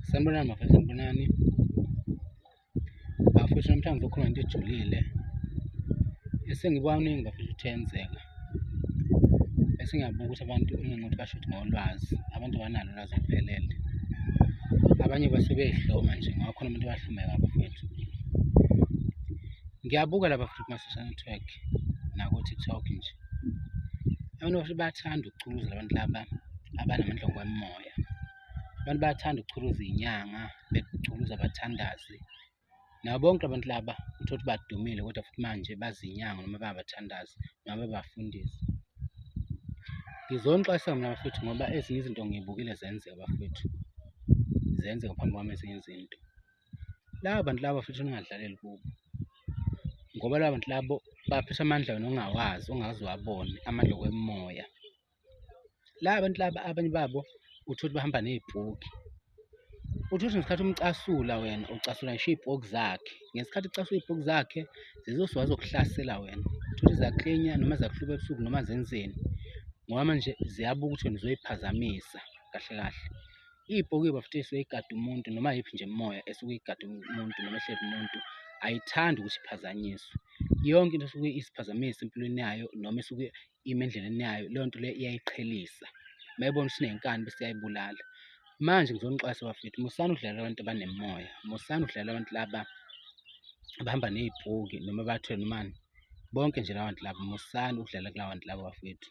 Sanibonani mafana, sanibonani. Bafethu namhlanje ngizokhuluma into ejulile. Esengikwaningi bafethu kuthenzeka. Esingabuka ukuthi abantu ungengothi basho ukuthi ngolwazi, abantu banalo ulwazi oluphelele. Abanye basuke beyihloma nje, ngoba khona abantu abahlomeka bafethu. Ngiyabuka la bafethu kuma-social network naku-TikTok nje. abantu bahle bayathanda ukuchuluza abantu laba abanamandla ngokomoya abantu bayathanda ukuchuluza iy'nyanga bechuluza abathandazi nabo bonke abantu laba uthole ukuthi badumile kodwa futhi manje bazinyanga noma babathandazi noma babafundisi ngizonixwayisa mina bafethu ngoba ezinye izinto ngiyibukile zenzeka bafethu zenzeka phambi kwami ezinye izinto laba bantu laba futhi ningadlaleli kubo ngoba laba bantu labo baphethe amandla wena ongawazi ongazi wabone amandla okwemoya laba bantu laba abanye babo uthole ukuthi bahamba nezibhuki uthi uthi ngesikhathi umcasula wena ucasula ngisho iy'poki zakhe ngesikhathi ucasula iy'poki zakhe zizosuka zizokuhlasela wena uthole zaklinya noma zakuhluba ebusuku noma zenzeni ngoba manje ziyabuka ukuthi wena uzoyiphazamisa kahle kahle. Ibhokiwe bafethu esuke igada umuntu noma yiphi nje imimoya esuke igada umuntu noma ehleli umuntu ayithandi ukuthi iphazanyiswe. Yonke into esuke isiphazamisa empilweni yayo noma esuke ime endleleni yayo leyo nto leyo iyayiqhelisa. Uma ibona ukuthi inenkani bese iyayibulala. Manje ngizonixwayisa bafethu musani ukudlalela abantu abanemimoya, musani ukudlalela abantu laba abahamba ney'bhuki noma bathwele nomani. Bonke nje laba bantu laba musani ukudlala kulaba bantu laba bafethu.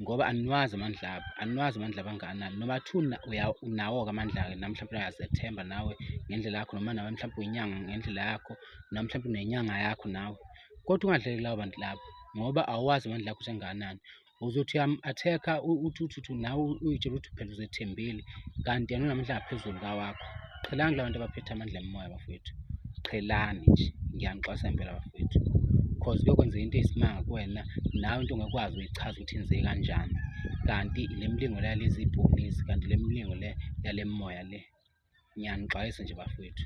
ngoba aniwazi amandla abo aniwazi amandla abanganani noma kuthiwa unawo-ke amandla-ke nami mhlawumpe uyazethemba nawe ngendlela yakho noma nawe mhlawumpe uyinyanga ngendlela yakho noma mhlawumpe unenyanga yakho nawe kodwa ungadleli lawo bantu labo ngoba awazi amandla akho ukuthi engakanani uzothi uyamu-attack-a uthi uthi uthi nawe uyitshela ukuthi phela uzethembile kanti yena unamandla angaphezulu kawakho. Qhelani labantu abaphethe amandla emoya bafowethu. Qhelani nje. Ngiyanixwasa impela bafowethu. Cause kuyokwenzeka into eyisimanga kuwena nawe into ongekwazi uyichaza ukuthi inzeke kanjani. Kanti le mlingo le yalezi ibhubesi kanti le mlingo le yale moya le. Ngiyanixwayisa nje bafowethu.